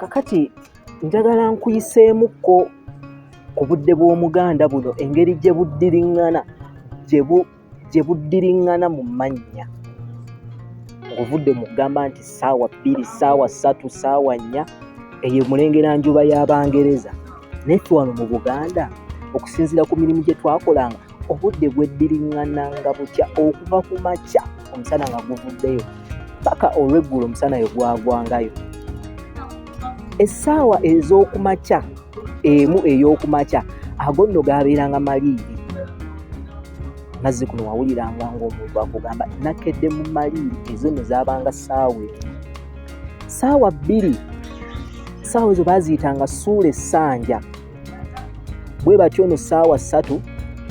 kakati njagala nkuyiseemukko ku budde bw'omuganda buno engeri gye buddiriŋŋana gye buddiriŋŋana mu mannya ng'ovudde mu kugamba nti ssaawa bbiri ssaawa ssatu ssaawa nnya eyo mulengera njuba y'abangereza naye ffe wano mu buganda okusinziira ku mirimu gye twakolanga obudde bweddiringana nga bukya okuva ku makya omusana nga guvuddeyo paka olweggulo omusana yo gwagwangayo essaawa ez'okumakya emu ey'okumakya ago nno gaabeeranga maliiri mazzi kuno wawuliranga ngaomuntu akugamba nakedde mu maliiri ezo nno zaabanga ssaawa emu ssaawa bbiri ssaawa ezo baaziyitanga suula essanja bwe batyo no ssaawa ssatu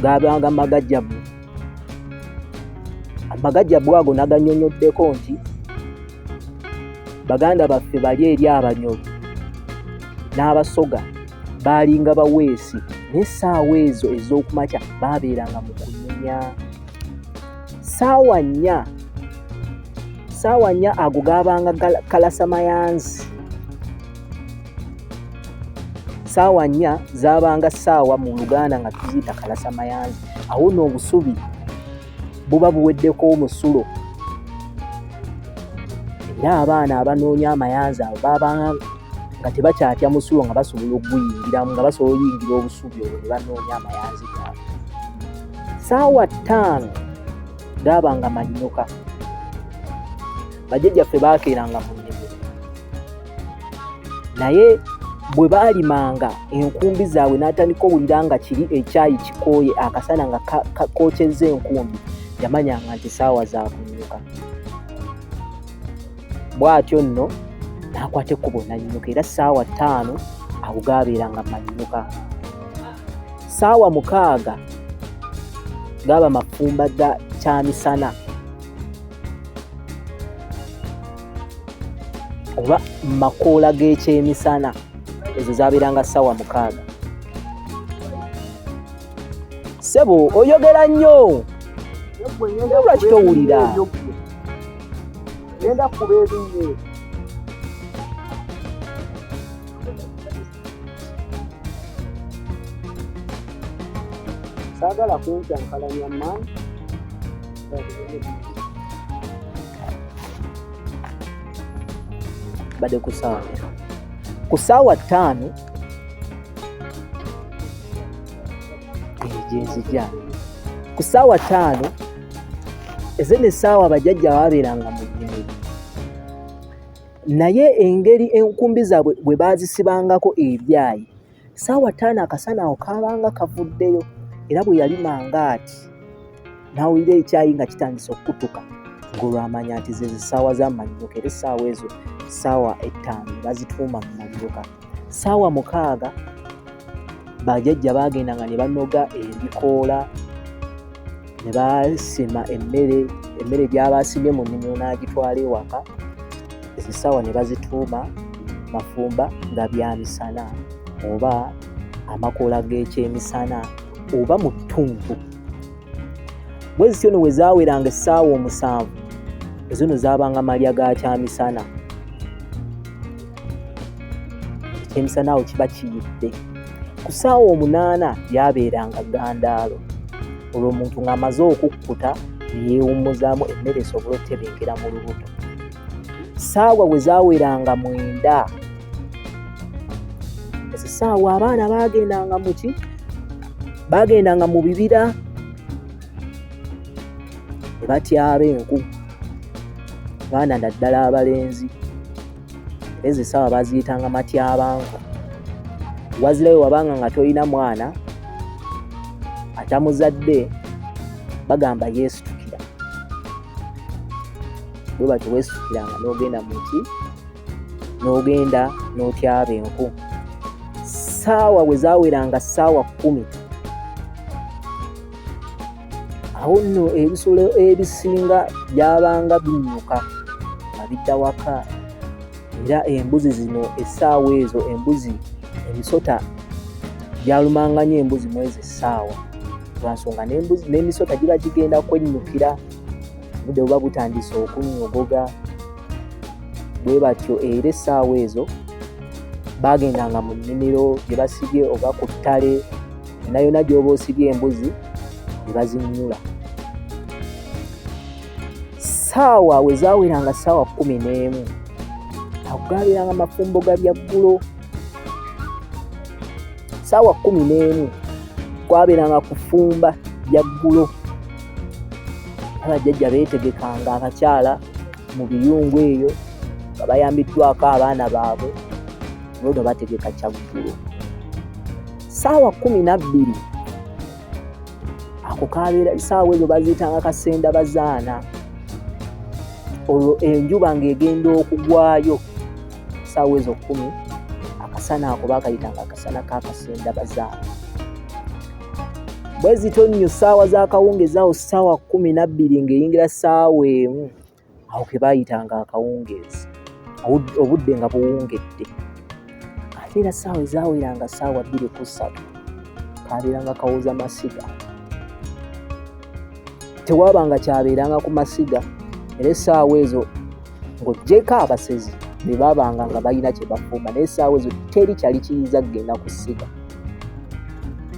gaabanga magajjabu amagajjabu ago naganyonyoddeko nti baganda baffe bali eri abanyoro n'abasoga baalinga baweesi n'essaawa ezo ez'okumakya baabeeranga mu kunyumya ssaawa nnya ssaawa nnya ago gaabanga kalasamayanzi saawa nnya zaabanga saawa mu luganda nga tuziyita kalasa mayanzi awo no obusubi buba buweddeko omusulo era abaana abanoonya amayanzi abo babanga nga tebakyatya musulo nga basobola okuguyingiramu nga basobola oyingira obusubi olwo ne banoonya amayanzi gaabo saawa ttaano gaabanga manyuka bajjajjaffe baakeeranga mu naye bwe baalimanga enkumbi zaabwe n'atandika owulira nga kiri ekyayi kikooye akasana nga kookyezza enkumbi yamanyanga nti saawa zakunyuka bw'atyo nno n'akwata ekkubo nannyuka era saawa ttaano awo gaabeera nga mannyuka saawa mukaaga gaaba mafumba ga kyamisana oba makoola g'ekyemisana ezo zabeeranga ssaawa mukaaga sebo oyogera nnyo lwaki towulira genda kuba ebinye saagala kuncankalanya maani bade ku saawa ku saawa ttaano gyenzija ku saawa ttaano eze ne saawa abajajja babeeranga mu nnimiro naye engeri enkumbi zaabwe bwe baazisibangako ebyayi Saawa ttaano akasana awo kaabanga kavuddeyo era bwe yali mangaati n'awulira ekyayi nga kitandise okukutuka ng'olwamanya nti ze zisaawa z'amannyuka era essaawa ezo ssaawa ettaano bazituuma mu mannyuka ssaawa mukaaga bajajja baagendanga ne banoga ebikoola ne basima emmere emmere gyabasimye mu nnimiro n'agitwala ewaka ezisawa ne bazituuma mafumba nga bya misana oba amakoola g'ekyemisana oba mu ttuntu bwe zityo no we zaaweranga essaawa omusanvu ezino zaabanga malya ga kyamisana ekyemisana awo kiba kiyidde ku ssaawa omunaana byabeeranga gandaalo olwo omuntu ng'amaze okukkuta neyeewummuzaamu emmere esobole okutebenkera mu lubuto ssaawa we zaweranga mwenda ezo ssaawa abaana baagendanga muki baagendanga mu bibira ne batyaba enku baana naddala abalenzi ezo esawa baziyitanga matyabanko wazirawe wabanga nga tolina mwana atamuzadde bagamba yeesitukira bwe batyo weesitukiranga n'ogenda mu ki n'ogenda n'otyaba enku saawa we zaweranga saawa kumi awo nno ebisolo ebisinga byabanga binyuka nga bidda waka era embuzi zino essaawa ezo embuzi emisota gyalumanga nyo embuzi mwezi essaawa lwansonga n'emisota giba gigenda kwennyukira budde buba butandise okunyogoga bwe batyo era essaawa ezo baagendanga mu nnimiro gye basibye oba ku ttale yonna yonna gy'oba osibye embuzi ne bazinnyula saawa we zaaweranga saawa kumi n'emu agaaberanga mafumbo ga byaggulo saawa kumi n'emu kwaberanga kufumba byaggulo abajjajja beetegekanga abakyala mu biyungu eyo nga bayambiddwako abaana baabwe nono bategeka kyaggulo saawa kumi nabbiri ako kabeera saawa ezo baziyitanga kasenda bazaana olwo enjuba ng'egenda okugwayo saawa ezo kumi akasana ako bakayitanga akasana kakasenda bazaana bwezito nnyo saawa zakawungezaawo saawa kumi nabbiri ng'eyingira saawa emu awo ke baayitanga akawungeezi obudde nga buwungedde ate era ssaawa ezaweranga ssaawa bbiri ku ssatu kaabeeranga kawooza masiga tewaabanga kyabeeranga ku masiga era essaawa ezo ng'oggyeko abasezi be baabanga nga balina kye bafumba naye essaawa ezo teri kyali kiyinza kugenda ku ssiga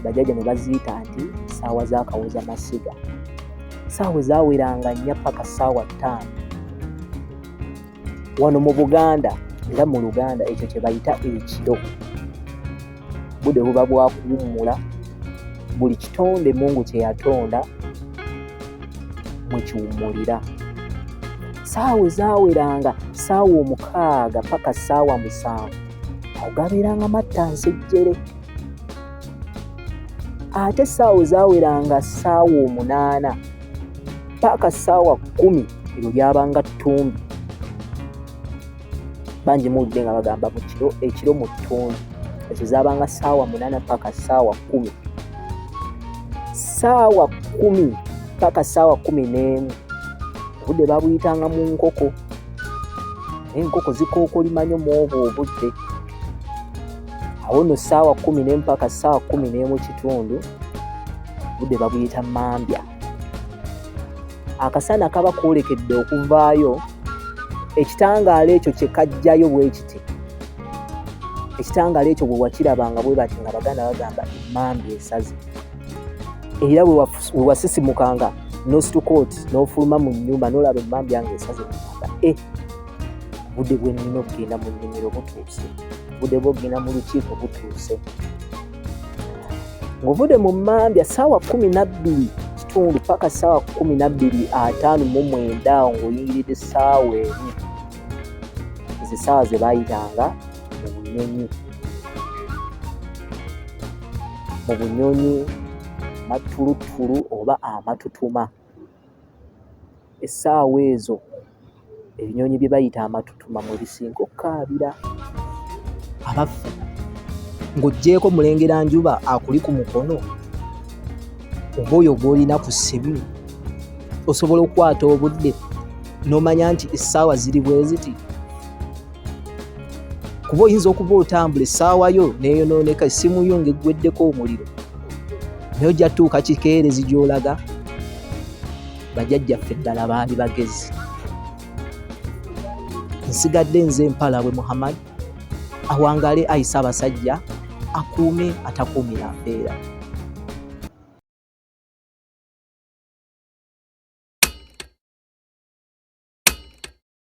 bajajja ne baziyita nti ssaawa z'akawooza masiga saawa ezaweranga nnya paka saawa ttaano wano mu buganda era mu luganda ekyo kyebayita ekiro budde buba bwakuwummula buli kitonde mungu kyeyatonda mwekiwummulira saawa ezaweranga saawa omukaaga paka saawa musanvu awo gabeeranga matta nsejjere ate essaawa ezaweranga ssaawa omunaana paaka ssaawa kkumi ebyo byabanga ttumbi bangi muwulidde nga bagamba mu kiro ekiro mu ttumbi ezo zaabanga ssaawa munaana paaka ssaawa kkumi ssaawa kkumi paaka ssaawa kkumi n'emu obudde babuyitanga mu nkoko enkoko zikookolima nyo mu obwo obudde awo no saawa kumi nempaka saawa kumi nemu kitundu budde babuyita mambya akasana kaba koolekedde okuvaayo ekitangaala ekyo kyekajjayo bwekiti ekitangaala ekyo bwewakirabanga bwebati nga baganda bagamba emambi esazi era wewasisimukanga nositukooti nofuluma mu nyumba nolaba emambi ange esazi e budde bwe nnina okugenda mu nnimiro butuuse budde bwogenda mu lukiiko butuuse ng'ovude mu mmambya ssaawa kumi nabbiri kitundu paka ssaawa kumi nabbiri ataano mu mwenda awo ng'oyingiridde essaawa emu ezo essaawa ze bayitanga mu bunyonyi mu bunyonyi mattuluttulu oba amatutuma ah, essaawa ezo ebinyonyi bye bayita amatutuma mwe bisinga okukaabira abaffe ng'oggyeeko mulengera njuba akuli ku mukono oba oyo gw'olina ku ssimu osobola okukwata obudde n'omanya nti essaawa ziri bwe ziti kuba oyinza okuba otambula essaawa yo neyonooneka essimu yo ngaeggweddeko omuliro naye ojja tuuka kikeerezi gyolaga bajajjaffe ddala baali bagezi nsigadde nze empala bwe muhammad awangale ayise abasajja akuume atakuumira mpeera